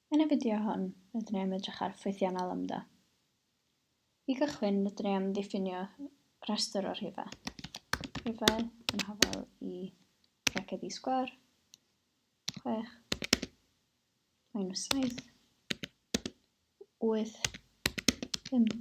Yn y fideo hwn, rydyn ni am edrych ar ffwythiannau lambda. I gychwyn, rydyn ni am ddiffinio rhestr o rhifau. Rhifau yn hafel i braced i sgwar, 6, minus 7, 8, 5,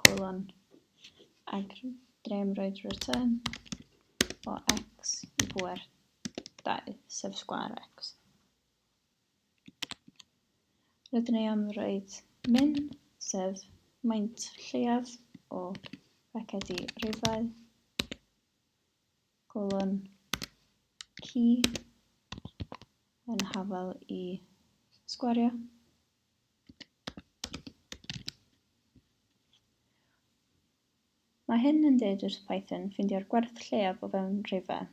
colon ag drem roedd return o x i bŵer 2, sef sgwâr x. Rydyn ni am roed min, sef maint lleiaf o racedi rifau, golon key yn hafal i sgwario. Mae hyn yn dweud wrth Python ffindio'r gwerth lleiaf o fewn rhifau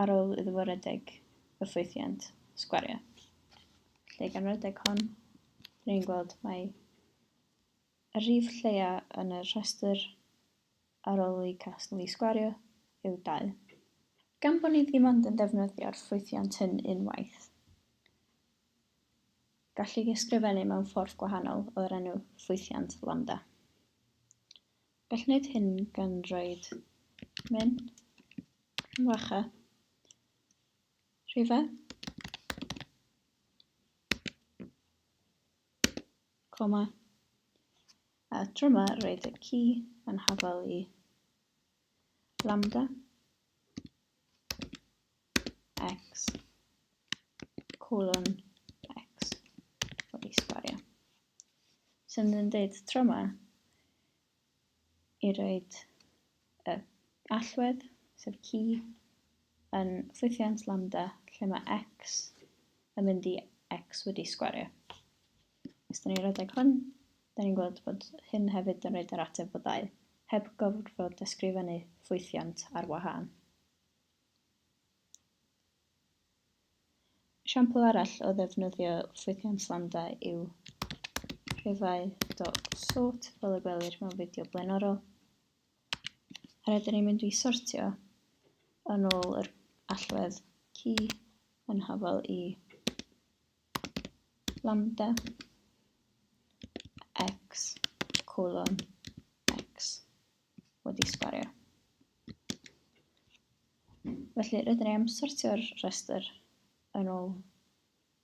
ar ôl iddo fo redeg y ffwythiant sgwario. Felly gan redeg hon, rydyn ni'n gweld mae y rhif lleiaf yn y rhestr ar ôl i casglu i sgwario yw 2. Gan bod ni ddim ond yn defnyddio'r ffwythiant hyn unwaith, Gall ei ysgrifennu mewn ffordd gwahanol o'r enw ffwythiant lambda. Gall wneud hyn gan roed min, wacha, rhifau, coma, a tro yma roed y ci yn hafal i lambda. x colon x wedi sgwario. Sy'n so, yn dweud tro yma i roed y allwedd, sef ci, yn ffwythiant lambda lle mae x yn mynd i x wedi sgwario. Os da ni'n rhedeg hwn, da ni'n gweld bod hyn hefyd yn rhaid yr ateb o ddau, heb gofrfod ysgrifennu ffwythiant ar wahân. Esiampl arall o ddefnyddio ffwythiant lambda yw rhifau dot sort fel y gwelir mewn fideo blaenorol. A rydyn ni'n mynd i sortio yn ôl yr allwedd key yn hafal i lambda x colon x. wedi sgwario. Felly rydyn ni am sortio'r rhestr yn ôl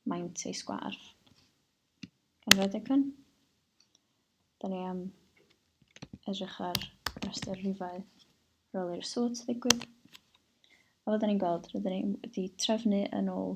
maint ei sgwar. Gan roed icon, da ni am edrych ar rhestr rhifau rôl i'r sort ddigwydd. A fydden ni'n gweld, rydyn ni wedi trefnu yn ôl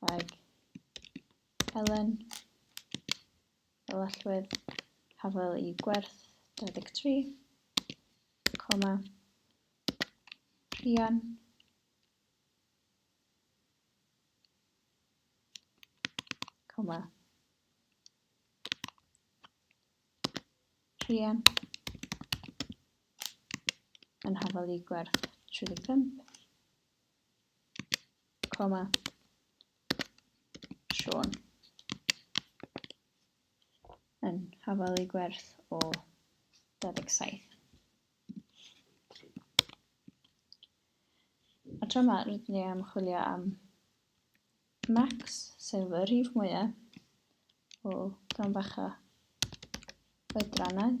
ag Elen, fel allwedd hafel i gwerth 23, coma, Rhian, coma, Rhian, yn hafel i gwerth 35, Coma. Sean. Yn hafalu gwerth o 27. A tro yma, rydyn ni am chwilio am max, sef y rhif mwyaf o gan bach o oedrannau.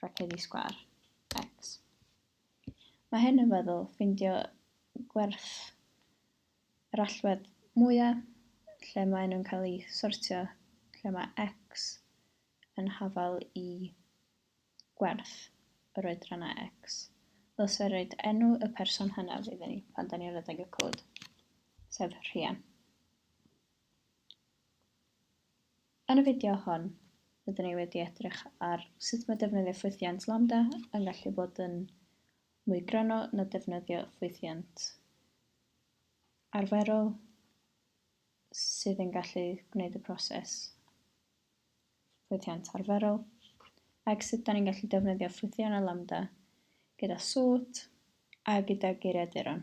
rhaglenni sgwâr, ecs. Mae hyn yn feddwl ffeindio gwerth yr allwedd mwyaf lle maen nhw'n cael eu sortio, lle mae ecs yn hafal i gwerth yr oedrannau ecs. Ddylse roed enw y person hynaf iddyn ni pan da ni'n rhedeg y cod, sef rhian. Yn y fideo hon, rydyn ni wedi edrych ar sut mae defnyddio ffwythiant Lambda yn gallu bod yn mwy gryno na defnyddio ffwythiant arferol sydd yn gallu gwneud y proses ffwythiant arferol ac sut da ni'n gallu defnyddio ffwythiant a Lambda gyda sort a gyda geiriaduron.